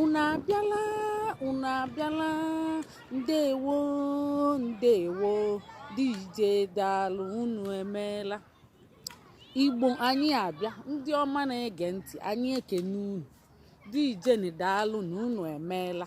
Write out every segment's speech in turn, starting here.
unu abịala unu abịala ndewo ndewo deeje daalụ unu emeela igbo anyị abịa ndị ọma na-ege ntị anyị ekene unu deejenụ daalụnụ unu emeela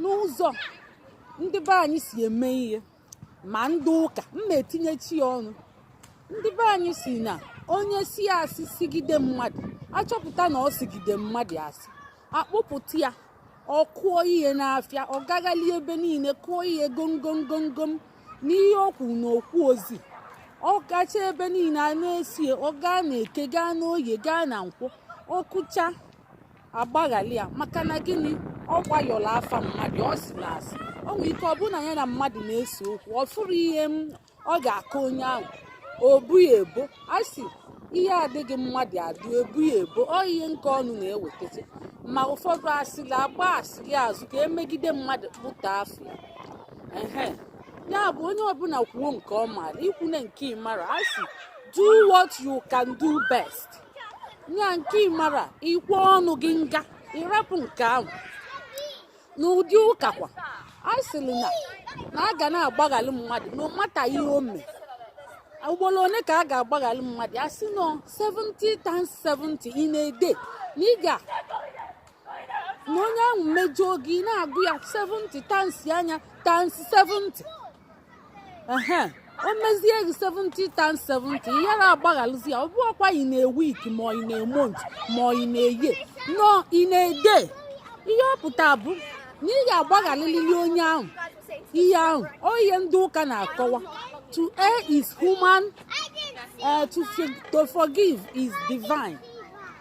n'ụzọ ndị be anyị si eme ihe ma ndị ụka m na-etinyechi ya ọnụ ndị be anyị sị na onye sị asị sigide mmadụ a chọpụta na ọ sigide mmadụ asị a kpụpụta ya ọ kụọ ihe n'afịa ọ gaghali ebe niile kụọ ihe gomgomgomgom n'ihe okwu na okwu ozi ọ gacha ebe niile a na-esie ọ gaa na eke gaa n'oye gaa na nkwọ ọ kụcha a gbaghalị ya maka na gịnị ọ gbayọrọ afa mmadụ ọ sịlị asị o nwere ike ọ bụ na ya na mmadụ na-ese okwu ọ fụrụ ihe ọ ga-akọ onye ahụ o bo ya ebo a sị ihe adịghị mmadụ adụ e bo ya ebo ọ ihe nke ọnụ na-ewetazi ma ụfọdụ asịrị agba asịrị azụ ka e megide mmadụ kpụta afa ya ehe ya bụ onye ọbụla kwuo nke ọ maara i kwune nke ị mara a sị do what you can do best ya nke ị mara i kwe ọnụ gị nga ị rapụ nke ahụ n'ụdị ụka kwa a sịrị na a ga na-agbaghali mmadụ no matter ihe o mee ugboro one ka a ga-agbaghali mmadụ a sị na ọ 70 times 70 in a day na ị ga-anọ onye ahụ mejọọ gị na-agụ ya 70 times anya times 70 o mezie gị 70 times 70 ị ghara agbaghalụzi ya ọ bụrọkwa in a week ma in a month ma in a year na ọ in a day ihe ọ pụta bụ na ị ga-agbaghalịlili onye ahụ ihe ahụ ọ ihe ndị ụka na-akọwa to err is human uh, to, to forgive is divine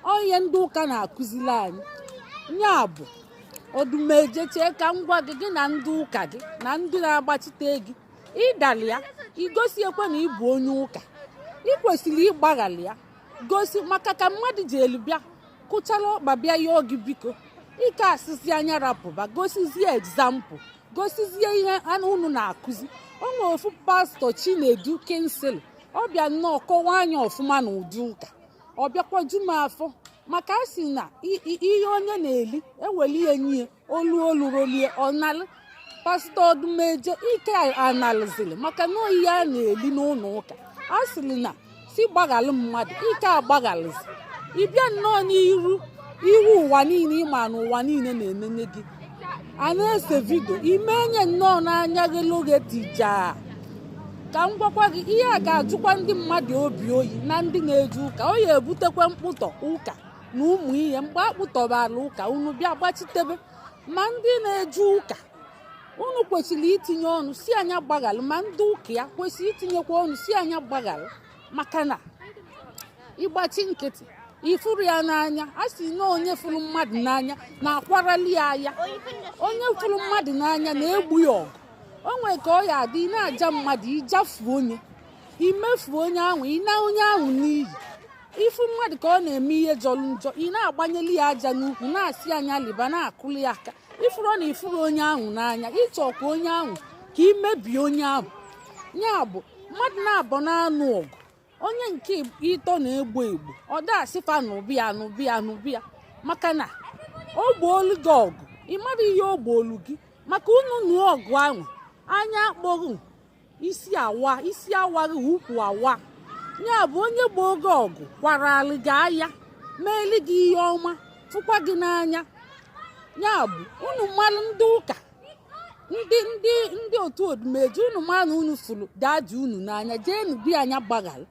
ọ ihe ndị ụka na-akụzili anyị ya bụ odumeje chee ka m gwa gị gị na ndị ụka gị na ndị na-agbachite gị ị dalị ya igosi ekwe na ị bụ onye ụka ị kwesịrị ịgbaghalị ya gosi maka ka mmadụ ji elu bịa kụchara ọkpa bịa yọọ gị biko ị ka asịzị nya rapụba gosizie example gosizie ihe ahụ unu na-akụzi o nwere ofu pastọ chinedu kingsley ọ bịa nnọọ kọwaa nya ọfụma na ụdị ụka ọ bịakwa ju m afọ maka a sị na ihe onye na-eli e weli ya nye olu olu rolie ọnalụ pastọ odumeje ị ka analịzị lie maka na ọ ihe a na-eli n'ụnọ ụka a sịrị na sị gbaghalụ mmadụ ị ka agbaghalịzị ị bịa nnọọ n'iru ihu ụwa niile ị ma na ụwa niile na-enene gị a na-ese vidio ime enye nnọọ n'anya gị n'oge tija ka m gwakwa gị ihe a ga-ajụkwa ndị mmadụ obi oyi na ndị na-eje ụka ọ ya-ebutekwa mkpụtọ ụka na ụmụ ihe mgbe a kpụtọbara ụka unu bịa gbachitebe ma ndị na-eje ụka unu kwesịrị itinye ọnụ sị nya gbaghalụ ma ndị ụka ya kwesịrị itinyekwa ọnụ sị nya gbaghalụ maka na ị gbachi nkịtị ị fụrọ ya n'anya a sị na onye fụrụ mmadụ n'anya na-akwarali ya aya onye fụrụ mmadụ n'anya na-egbo ya ọgụ o nwere ka ọ ya adị ị na-aja mmadụ ị jafuo onye i mefuo onye ahụ ị na onye ahụ n'iyi ị fụ mmadụ ka ọ na-eme ihe jọrọ njọ ị na-agbanyeli ya aja n'ukwu na-asị nya liba na-akụli ya aka ị fụrọ na ị fụrọ onye ahụ n'anya ị chọ ka onye ahụ ka i mebie onye ahụ ya bụ mmadụ naabọ na-anụ ọgụ onye nke ịtọ na-egbo egbo ọ da-asị fa nụba nụba nụba maka na o gboolu gị ọgụ ị mara ihe o gboolu gị maka unu nụọ ọgụ ahụ anya akpọghị isi awa isi awaghị ụkwụ awa ya bụ onye gboo gị ọgụ kwarali gị aya meeli gị ihe ọma fụkwa gị n'anya ya bụ unu mmalụ ndị ụka ndị ndị ndị otu Odumeje unu ma na unu fụrụ daddy unu n'anya jeenu gwa nya gbaghalụ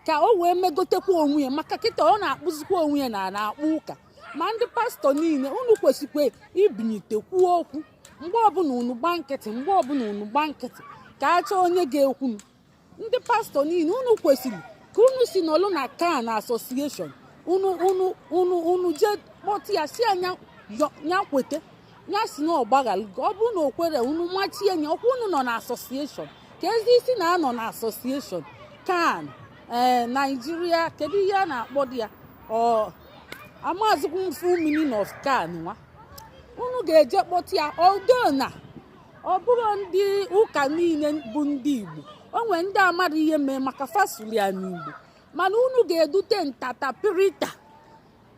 ka o wee megotekwa onwe ya maka kịta ọ na-akpụzikwa onwe ya na na-akpụ ụka ma ndị pastọ niile unu kwesịkwa ibinyite kwuo okwu mgbe ọbụla unu gba nkịtị mgbe ọbụla unu gba nkịtị ka a chọọ onye ga-ekwunụ ndị pastọ niile unu kwesịrị ka unu si n'ọlụ na CAN association unu unu unu unu jee kpọtụ ya sị ya ya kweta ya sị na ọ gbaghara ọ bụrụ na o kwerọ unu machie nya ọkwa unu nọ na association ka e si na-anọ na association CAN ee eh, Naijiria kedu ihe a na-akpọdi ya amazikwa m full meaning of CAN nwa unu ga-eje kpọta ya ọdona ọ bụrụ ndị ụka niile bụ ndị Igbo o nwere ndị amarọ ihe mee maka fa sụlụ ya n'Igbo mana unu ga-edute interpreter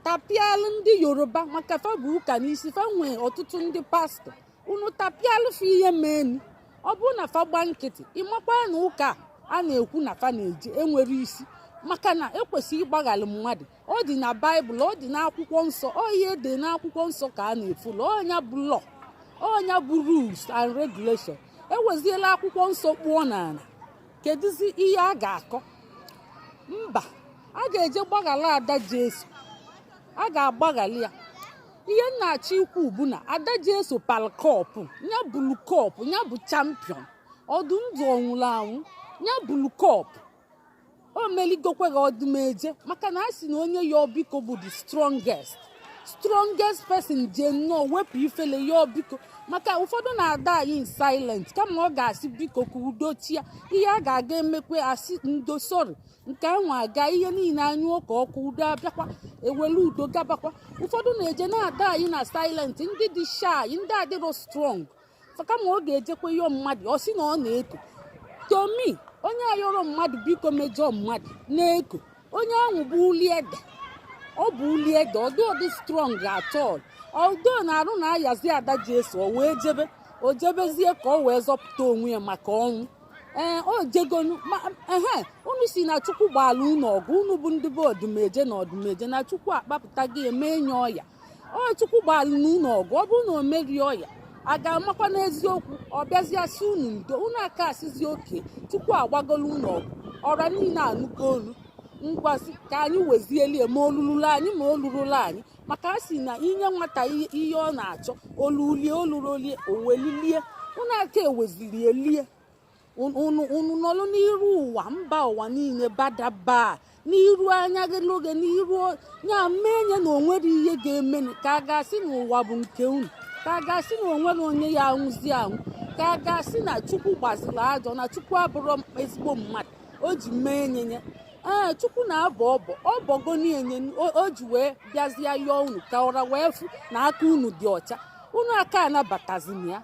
tapịalụ ndị Yoruba maka fa bu ụka n'isi fa nwee ọtụtụ ndị pastọ unu tapịalụ fa ihe meenụ ọ bụrụ na fa gba nkịtị ị makwa na ụka a na-ekwu na fa na-eje enwerọ isi maka na e kwesịrị ịgbaghara mmadụ ọ dị na baịbụl ọ dị n'akwụkwọ nsọ ọ ihe dị n'akwụkwọ nsọ ka a na-efolo ọ nya bụ law ọ nya bụ rules and regulation e weziela akwụkwọ nsọ kpụọ n'ala kedụzi ihe a ga-akọ mba a ga-eje gbaghara Ada Jesu a ga-agbaghara ya ihe m na-achọ ikwu bụ na Ada Jesu palụ cup ya bulu cup ya bụ champion ọ dị ndụ ọ nwụrụ anwụ ya bulu cup o meligokwa gị ọdụmeje maka na a sị na onye yọọ biko bụ the strongest strongest person je nnọọ wepụ ifele yọọ biko maka ụfọdụ na-a die in silent kama ọ ga-asị biko ka udo chịa ihe a ga-aga emekwe asị ndo sori nke ahụ aga ihe niile anyụọ ka ọkụ udo abịakwa ewere udo gabakwa ụfọdụ na-eje na-a die na silent ndị dị shy ndị adịrọ strong kama ọ ga-ejekwa yọọ mmadụ ọ sị na ọ na-eko tomi onye ayọrọ mmadụ biko mejọọ mmadụ na-eko onye ahụ bụ uli ede ọ bụ uli ede ọ dịrọ strong at all although na arụ na-ayazi ada jesus o wee jebe o jebezie ka ọ wee zọpụta onwe ya maka ọnwụ ee o jegonu ehe unu sị na chukwu gbaala unu ọgụ unu bụ ndị be ọdụmeje na ọdụmeje na chukwu akpapụta gị emenye ọya ọ chukwu gbalụ unu ọgụ ọ bụrụ na o merie ọya a ga-amakwa n'eziokwu ọ bịazie sị unu ndo unu aka asịzi okay chukwu agbagolu unu ọgụ ọra niile anụgo olu ngwazi ka anyị wezie lie ma o lululu anyị ma o lurolu anyị maka a sị na i nye nwata ihe ihe ọ na-achọ o lulu ye o lurolu ye o welu lie unu aka ewezili lie unu nọlụ n'iru ụwa mba ụwa niile badaba n'iru anya gị n'oge n'iru ya mee nye na o nwere ihe ga-eme ka a ga-asị na ụwa bụ nke unu ka a ga-asị na o nwere onye ya anwụzi anwụ ka a ga-asị na chukwu gbaziri ajọ na chukwu abụrọ ezigbo mmadụ o ji mee enyenye ee chukwu na-abọ ọbọ ọ bọgo na-enye o ji wee bịazie yọọ unu ka ọra wee fụ na aka unu dị ọcha unu aka anabatazina ya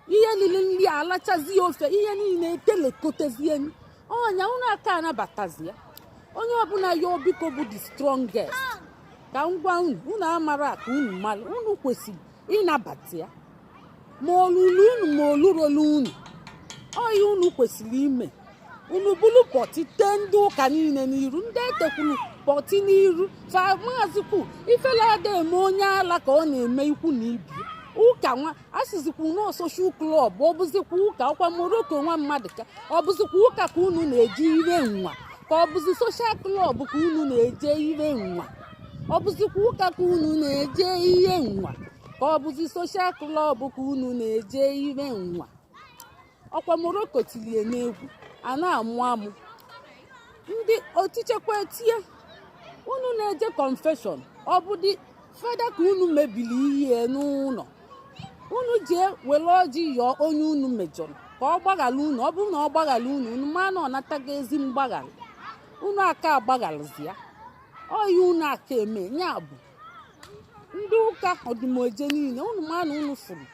ihe lili nri alachazie ofe ihe niile etelekotezie ọnya unu aka anabatazi ya onye ọbụla yọọ biko bụ the strongest ka m gwa unu unu amara ka unu mara unu kwesịrị ịnabata ya ma o lulu unu ma o lurolu unu ọ ihe unu kwesịrị ime unu buru pọtị tee ndị ụka niile n'iru ndị etekwuru pọtị n'iru fa maazị kwu ifele ada eme onye ala ka ọ na-eme ikwu na ibe ụka nwa a sịzikwa na ọ social club ọ bụzikwa ụka ọkwa morocco nwa maduka ọ bụzikwa ụka ka unu na-eje ihe nwa ka ọ bụzi social club ka unu na-eje ihe nwa ọ bụzikwa ụka ka unu na-eje ihe nwa ka ọ bụzi social club ka unu na-eje ihe nwa ọkwa morocco tili ye n'egwu a na-amụ amụ ndị otichekwa etie unu na-eje confession ọ bụdị fada ka unu mebiri ihe n'ụlọ unu jee were ọjị yọọ onye unu mejọrọ ka ọ gbaghara unu ọ bụrụ na ọ gbaghara unu unu ma na ọ natago ezi mgbaghara unu aka agbagharazi ya ọ ihe unu aka eme ya bụ ndị ụka ọdụmeje niile unu ma na unu fụrụ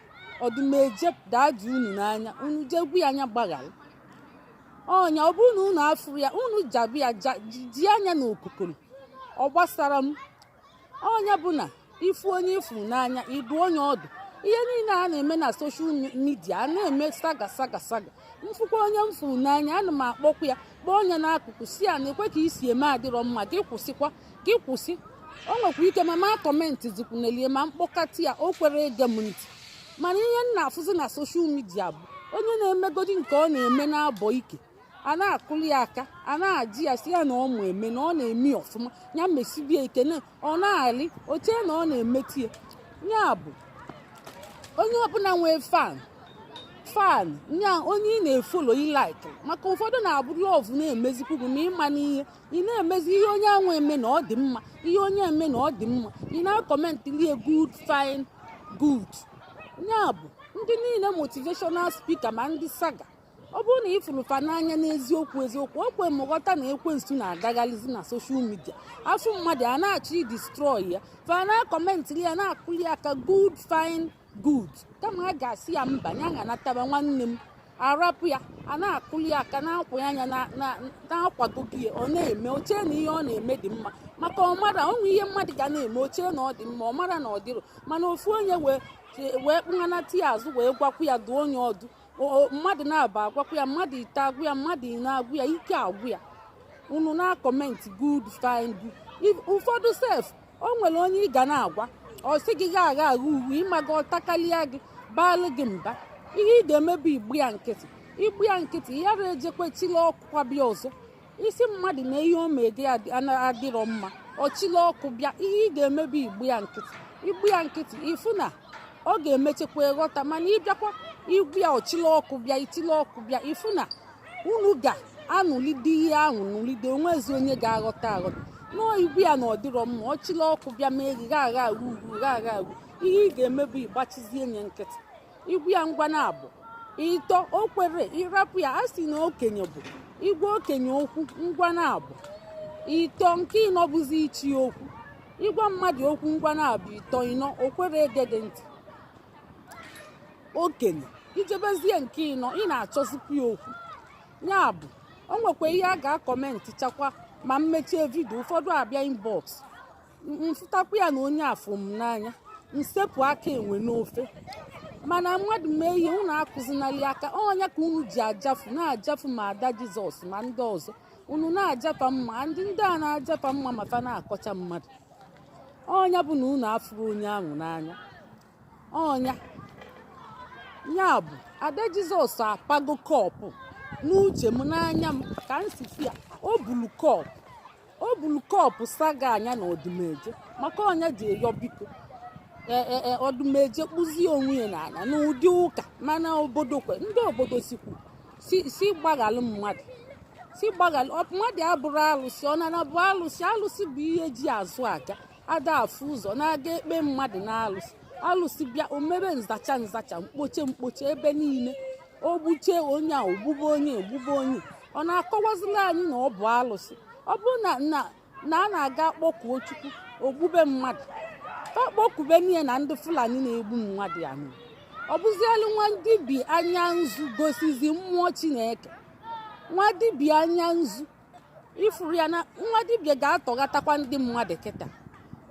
ọdụmeje dadị unu n'anya unu je gwa ya nya gbaghara onye ọ bụrụ na unu afụrọ ya unu jaba ya ja- ji- ji anya na okokoro ọ gbasarọ m onye ọbụna ịfụ onye ị fụrụ n'anya ị dụọ onye ọdụ ihe niile a na-eme na soshal midia a na-eme saga saga saga mfụkwa onye m fụrụ n'anya ana m akpọkwa ya kpọọ onye n'akụkụ sị ya nekwa ka i si eme adịrọ mma gị kwụsịkwa gị kwụsị o nwekwa ike m ama akọmentịzikwunelị ya ma m kpọkata ya o kwerọ ege m ntị mana ihe m na-afụzi na soshal midia bụ onye na-emegodi nke ọ na-eme na-abọ ike a na-akụlụ ya aka a na-aja ya sị ya na ọ ma eme na ọ na-eme ọfụma ya mesibie ike ọ na-alị o chee na ọ na-emeta ya ya bụ onye ọbụla nwee fan fan nya onye ị na-efolo ị laik maka ụfọdụ na-abụ lọv na-emezikwu gị ma ịma n'ihe ị na-emezi ihe onye anwa eme na ọ dị mma ihe onye eme na ọ dị mma ị na-akọmentịlị ya good fine good ya bụ ndị niile motivational spika ma ndị saga ọ bụrụ na ị fụrụ fa n'anya n'eziokwu eziokwu o kwe m ghọta na ekwensu na-agagharịzi na soshal midia a fụ mmadụ a na-achọ idistrọị ya fa na-akọmentịrị ya na-akụli aka good fine good kama a ga-asị ya mba ya ga-anataba nwanne m a rapụ ya a na-akụli aka na-akwụ ya anya na-akwado gị ọ na-eme o chee na ihe ọ na-eme dị mma maka ọ marọ o nwee ihe mmadụ ga na-eme o chee na ọ dị mma ọ marọ na ọ dịrọ mana ofu onye wee wee kpụnanata ya azụ wee gwakwu ya dụọ onye ọdụ mmadụ n'abọ agwakwu ya mmadụ ịtọ agwa ya mmadụ ịnọ agwa ya ike agwụ ya unu na-akọmenti good fine good ụfọdụ sef o nwere onye ị ga na-agwa ọ sị gị gha agha agha uwe ị maga ọ takarịa gị baalụ gị mba ihe ị ga-eme bụ ịgba ya nkịtị ịgba ya nkịtị ya ejekwa chịlị ọkụ kwa bịa ọzọ ị sị mmadụ na ihe o mege adịrọ mma ọ chịlị ọkụ bịa ihe ị ga-eme bụ ịgba ya nkịtị ịgba ya nkịtị ị fụ na ọ ga-emechakwa ghọta mana ị bịakwa ịgwa ya ọ chịlị ọkụ bịa ị chịlị ọkụ bịa ị fụ na unu ga-anụlide ihe ahụ nụlide o nwezi onye ga-aghọta aghọta nọọ ị gwa ya na ọ dịrọ mma ọ chịlị ọkụ bịa mee gị gha agha uru gha agha uru ihe ị ga-eme bụ ịgbachizi onye nkịtị ị gwa ya ngwa n'abọ ịtọ o kwerọ ị rapụ ya a sị na okenye bụ ịgwa okenye okwu ngwa n'abọ ịtọ nke ịnọ bụzi ịchọ okwu ị gwa mmadụ okwu ngwa n'abọ ịtọ ịnọ o kwerọ ege gị ntị okenye ị jebezie nke ịnọ ị na-achọzikwa ya okwu ya bụ o nwekwa ihe a ga-akọmentị chakwa ma m mechie vidio ụfọdụ abịa inbox m fụtakwa ya na onye afụ m n'anya m sepụ aka enwe n'ofe mana mmadụ mee ihe unu akụzinali aka ọ nya ka unu ji ajafu na-ajafu ma ada jizọs ma ndị ọzọ unu na-aja fa mma ndị ndị a na-aja fa mma ma fa na-akọcha mmadụ ọ nya bụ na unu afụrọ onye ahụ n'anya ọ nya ya bụ ada jizọs apago kọpụ n'uche m n'anya m ka m si fụ ya o bulu kọpụ o buru kọpụ saga anya na ọdụmeje maka ọ nya ji eyọ biko e, e, e, ọdụmeje kpụzie onwe ya n'ala n'ụdị ụka mana obodo kwe ndị obodo sikwu si gbaghalụ mmadụ si gbaghalụ mmadụ abụrọ alụsị ọ nana bụ alụsị alụsị bụ ihe ji azụ aga ada afụ ụzọ na-aga ekpe mmadụ n'alụsị alụsị bịa o mebe nzacha nzacha mkpoche mkpoche ebe niile o gbuche onye a o gbube onye o gbube onye ọ na-akọwazila anyị na ọ bụ alụsị ọ bụrụ na na na a na-aga kpọkuo chukwu o gbube mmadụ ka a kpọkube n'ihe na ndị fulani na-egbu mmadụ ya mere ọ bụzielu nwa dibia anya nzu gosizi mmụọ chineke nwa dibia anya nzu ị fụrụ ya na nwa dibia ga-atọghatakwa ndị mmadụ kịta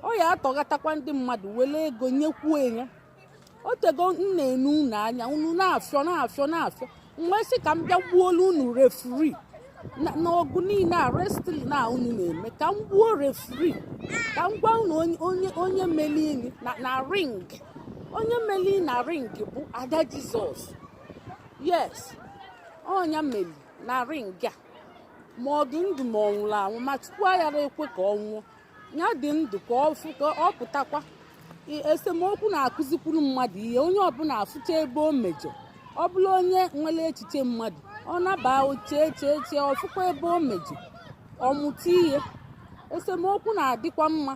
ọ ya atọghatakwa ndị mmadụ were ego nyekwuo ya o tego m na-ene unu anya unu na-afịọ na-afịọ na-afịọ m wee sị ka m bịa gbuolu unu referee n'ọgụ niile a wrestling a unu na-eme ka m gbuo referee ka m gwa unu onye onye melini na ring onye meli na ring bụ ada jizọs yes ọ nya meli na ring a ma ọ dị ndụ ma ọ nwụrụ anwụ ma chukwu aghara ekwe ka ọ nwụọ ya dị ndụ ka ọ fụ ka ọ pụtakwa I- esemokwu na-akụzikwuru mmadụ ihe onye ọbụla afụcha ebe o mejọ ọ bụrụ onye nwere echiche mmadụ ọ naba o chee chee chee ọ fụkwa ebe o mejọ ọ mụta ihe esemokwu na-adịkwa mma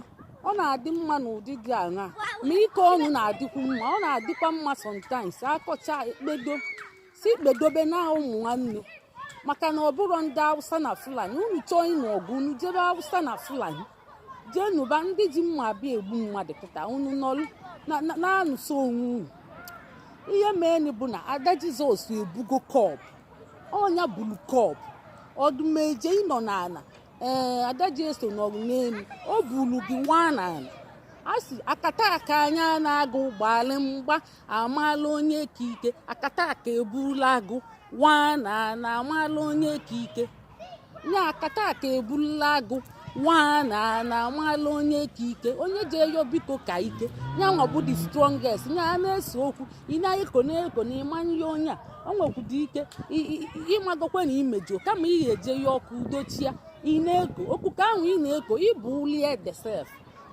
ọ na-adị mma n'ụdị dị aṅa ma ike ọnụ na-adịkwu mma ọ na-adịkwa mma sometimes a kọcha e kpedo sị kpedobe na ụmụ nwanne maka na ọ bụrụ ndị awụsa na fulani unu chọọ ịnụ ọgụ unu jebe awụsa na fulani jee nụba ndị ji mma abịa egbu mmadụ kịta unu nọrụ na-anụso onwe unu ihe meenụ bụ na ada jizọs ebugo kọp ọ nya buru kọp ọdụmeje ị nọ n'ala ee eh, ada jizọs nọrụ n'elu o buru gị nwa n'ala a sị akataka nya na agụ gbalị mgba amaala onye ka ike akata aka eburula agụ waa na na amaala onye ka ike ya akata aka eburula agụ waa na na amaala onye ka ike onye je yọọ biko ka ike ya nwa bụ the strongest ya a na-ese okwu ị na-eko na-eko na ị ma ayọ onye a o nwekwudị ike ịmagokwa na imejọ kama ị ga-eje yọọ ka udo chịa ị na-eko okuko ahụ ị na-eko ị bụ uli ede sef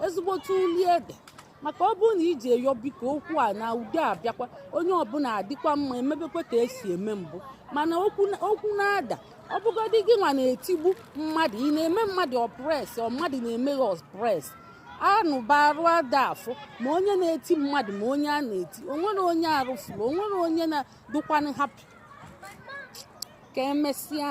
ezigbote uli ede maka ọ bụrụ na i je yọọ biko okwu ana udo abịakwa onye ọbụla adịkwa mma emebekwa ka esi eme mbụ mana okwu na-ada ọ bụgodị gị nwa na-etigbu mmadụ ị na-eme mmadụ oppress ọ mmadụ na-eme gị oppress anụba arụ ada afọ ma onye na-eti mmadụ ma onye a na-eti onwere onye arụ fọlụ onwere onye na-adịkwanụ happy ka emesịa